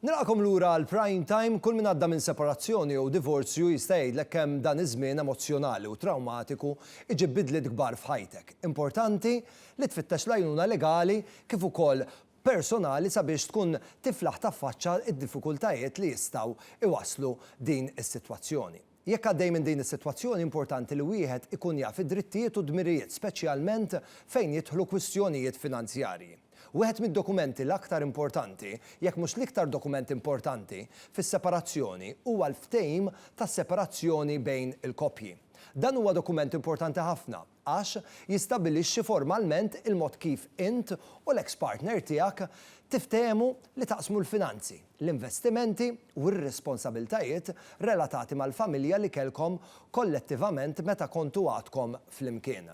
Nilqakom lura għal Prime Time kull min għadda minn separazzjoni jew divorzju jista' jgħidlek kemm dan iż-żmien emozzjonali u trawmatiku iġib bidliet kbar f'ħajtek. Importanti li tfittex l-għajnuna legali kif ukoll personali sabiex tkun tiflaħ taffaċċa d-diffikultajiet li jistgħu iwasslu din is-sitwazzjoni. Jekk għaddej minn din is-sitwazzjoni, importanti li wieħed ikun jaf id-drittijiet u d-dmirijiet, speċjalment fejn jidħlu kwistjonijiet finanzjarji. Wieħed mid-dokumenti l-aktar importanti, jekk mhux l-iktar dokument importanti, fis-separazzjoni huwa l-ftehim tas-separazzjoni bejn il-koppji. Dan huwa dokument importanti ħafna. għax jistabbilixxi formalment il-mod kif int u l-eks partner tiegħek tiftehmu li taqsmu l-finanzi, l-investimenti u r-responsabiltajiet relatati mal-familja li kellkom kollettivament meta kontu għadkom flimkien.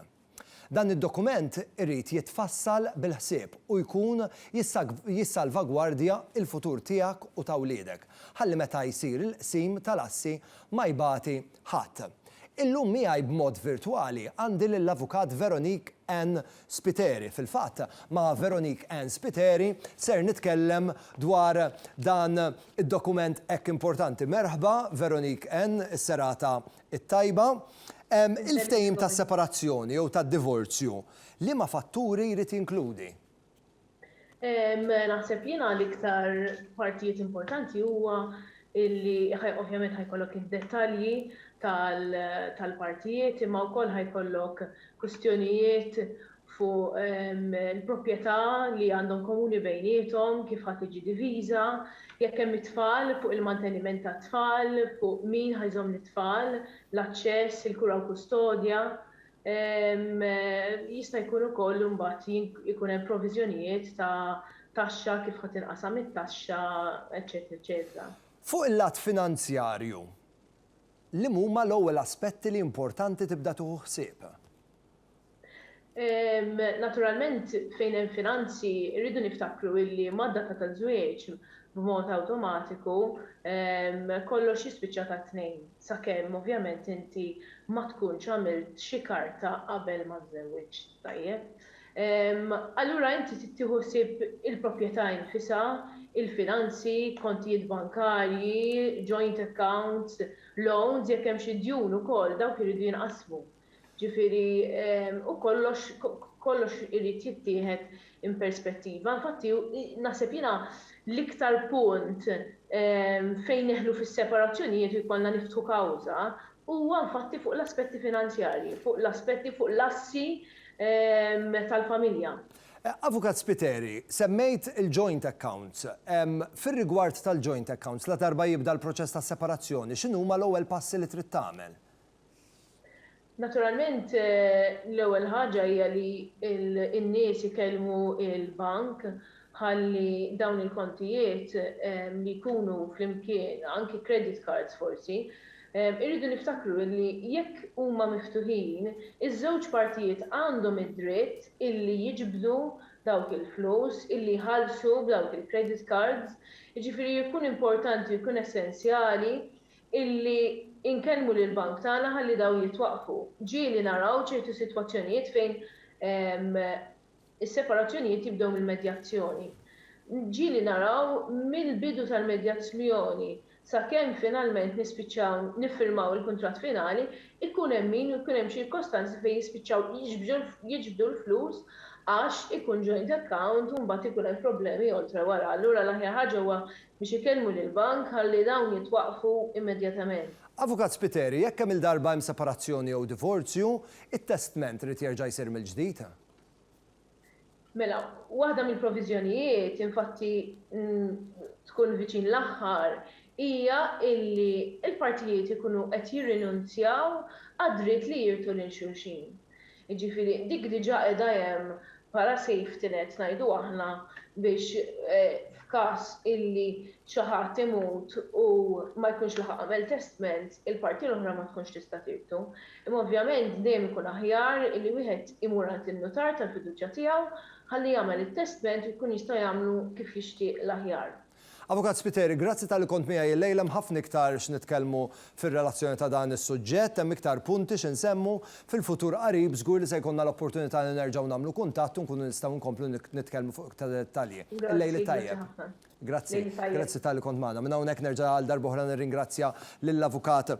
Dan id-dokument irid jitfassal bil-ħsieb u jkun jissalvagwardja l-futur tiegħek u ta' wliedek, ħalli meta jsir il-qsim tal-assi Ma jbati ħadd. Illum miegħi b'mod virtwali għandi lill-Avukat Veronique Ann Spiteri. Fil-fatt, ma' Veronique Ann Spiteri ser nitkellem dwar dan id-dokument hekk importanti. Merħba, Veronique Ann, is-serata t-tajba. Il-ftehim tas-separazzjoni jew tad-divorzju liema fatturi jrid jinkludi? Naħseb jiena l-iktar partijiet importanti huwa illi ovvjament ħajkollok id-dettalji tal-partijiet imma wkoll ħajkollok kwistjonijiet fuq il-proprjetà li għandhom komuni bejniethom, kif ħa tiġi diviża, jekk hemm it-tfal, fuq il-manteniment tat-tfal, fuq min ħa jżomm lit-tfal, l-aċċess, il-kura u l-kustodja, Jista' jkun ukoll li mbagħad ikun hemm proviżjonijiet ta' taxxa, kif ħa tinqasam it-taxxa, eċċetera, eċċetera. Fuq il-lat finanzjarju, liema huma l-ewwel aspetti li importanti tibda tieħu ħsieb? Naturalment, fejn hemm finanzi, irridu niftakru illi mad-data taż-żwieġ, b'mod awtomatiku, kollox jispiċċa tat-tnejn. sakemm ovvjament inti ma tkunx għamilt xi karta qabel ma żżewwiġt, tajjeb? Allura inti trid tieħu ħsieb il-proprjetà infisha, il-finanzi, kontijiet bankarji, joint accounts, loans, jekk hemm xi djun ukoll dawk iridu jinqasmu. Ġifieri, u kollox, kollox irid jittieħed in perspettiva. Infatti, naħseb jiena l-iktar punt fejn nidħlu fis-separazzjonijiet u jkollna niftħu kawża huwa infatti fuq l-aspetti finanzjarji, fuq l-aspetti, fuq l-assi tal-familja. Avukat Spiteri, semmejt il-joint accounts. Fir-rigward tal-joint accounts, ladarba jibda l-proċess ta' separazzjoni, x'inhuma l-ewwel passi li trid tagħmel? Naturalment, l-ewwel ħaġa hija li n-nies ikellmu l-bank ħalli dawn il-kontijiet li jkunu flimkien, anki credit cards forsi, irridu niftakru li jekk huma miftuħin, iż-żewġ partijiet għandhom id-dritt illi jiġbdu dawk il-flus, illi jħallsu b'dawk il-credit cards, jiġifieri jkun importanti u jkun essenzjali illi inkellmu lill-bank tagħna ħalli dawn jitwaqqfu. Ġieli naraw ċertu sitwazzjonijiet fejn is-separazzjonijiet jibdew mill-medjazzjoni. Ġieli naraw mill-bidu tal-medjazzjoni sakemm finalment nispiċċaw niffirmaw il-kuntratt finali, ikun hemm min u jkun hemm ċirkostanzi fejn jispiċċaw jiġbdu l-flus għax ikun joint account u mbagħad ikun hemm problemi oltre wara. Allura l-aħjar ħaġa huwa biex ikellmu lill-bank ħalli dawn jitwaqqfu immedjatament. Avukat Spiteri, jekk kemm-il darba hemm separazzjoni jew divorzju, it-testment irid jerġa' jsir mill-ġdid? Mela, waħda mill-proviżjonijiet, infatti tkun viċin l-aħħar, hija illi l-partijiet ikunu qed jirrinunzjaw għad-dritt li jirtu lil xulxin. Jiġifieri dik diġà qiegħda hemm bħala safety net ngħidu aħna biex f'każ illi xi ħadd imut u ma jkunx laħaq għamel testment, il-parti l-oħra ma tkunx tista' tirtu. Imma ovvjament dejjem ikun aħjar illi wieħed imur għand in-nutar tal-fiduċja tiegħu ħalli jagħmel it-testment u jkun jista' jagħmlu kif jixtieq l-aħjar. Avukat Spiteri, grazzi talli kont miegħi illejla, hemm ħafna iktar x'nitkellmu fir-relazzjoni ta' dan is-suġġett, hemm iktar punti xi nsemmu. Fil-futur qarib żgur li se jkollna l-opportunità li nerġgħu nagħmlu kuntatt u nkunu nistgħu nkomplu nitkellmu fuq iktar dettalji. Il-lejl it-tajjeb. Grazzi, grazzi talli kont magħna. Minn hawnhekk nerġa' għal darba oħra nirringrazzja lill-Avukat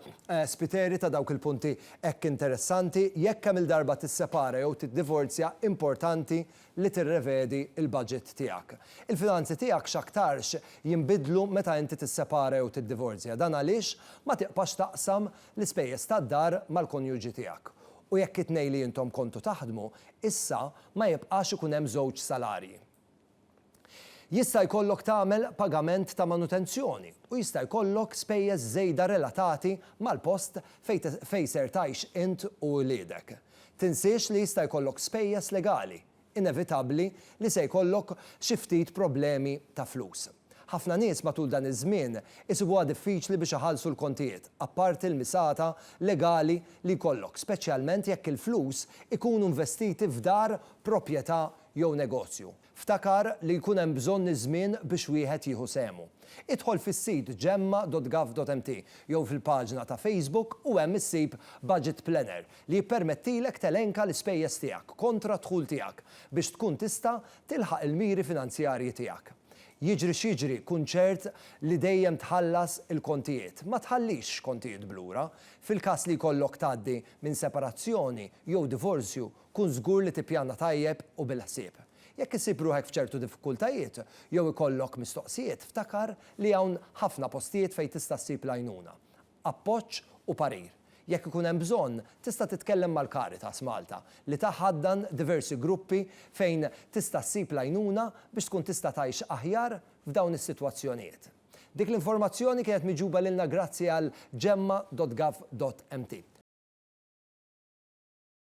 Spiteri ta' dawk il-punti hekk interessanti. Jekk kemm-il darba tissepara jew tiddivorzja, importanti li tirrevedi l-baġit tiegħek. Il-finanzi tiegħek x'aktarx jinbidlu meta inti tissepara jew tiddivorzja. Dan għaliex ma tiqpax taqsam l-ispejjeż tad-dar mal-konjuġi tiegħek. U jekk it-tnejn li intom kontu taħdmu, issa ma jibqax ikun hemm żewġ salarji. Jista' jkollok tagħmel pagament ta' manutenzjoni u jista' jkollok spejjeż żejda relatati mal-post fejn fejn ser tgħix int u wliedek. Tinsiex li jista' jkollok spejjeż legali, inevitabbli li se jkollok xi ftit problemi ta' flus. Ħafna nies matul dan iż-żmien isibuha diffiċli biex iħallsu l-kontijiet, apparti l-misata legali li jkollok, speċjalment jekk il-flus ikunu investiti f'dar, proprjetà jew negozju. Ftakar li jkun hemm bżonn iż-żmien biex wieħed jieħu sehmu. Idħol fis-sit gemma.gov.mt jew fil-paġna ta' Facebook u hemm issib Budget Planner li jippermettilek telenka l-ispejjeż tiegħek kontra d-dħul tiegħek biex tkun tista' tilħaq il-miri finanzjarji tiegħek. Jiġri x'jiġri kun ċert li dejjem tħallas il-kontijiet. Ma tħallix x'kontijiet b'lura. Fil-każ li jkollok tgħaddi minn separazzjoni jew divorzju, Kun żgur li tippjana tajjeb u bil-ħsieb. Jekk issib ruħek f'ċertu diffikultajiet jew ikollok mistoqsijiet, ftakar li hawn ħafna postijiet fejn tista' ssib l-għajnuna, appoġġ u parir. Jekk ikun hemm bżonn, tista' titkellem mal-Caritas Malta, li taħaddan diversi gruppi fejn tista' ssib l-għajnuna biex tkun tista' tgħix aħjar f'dawn is-sitwazzjonijiet. Dik l-informazzjoni kienet miġjuba lilna grazzi għal Gemma dot Gov dot Mt.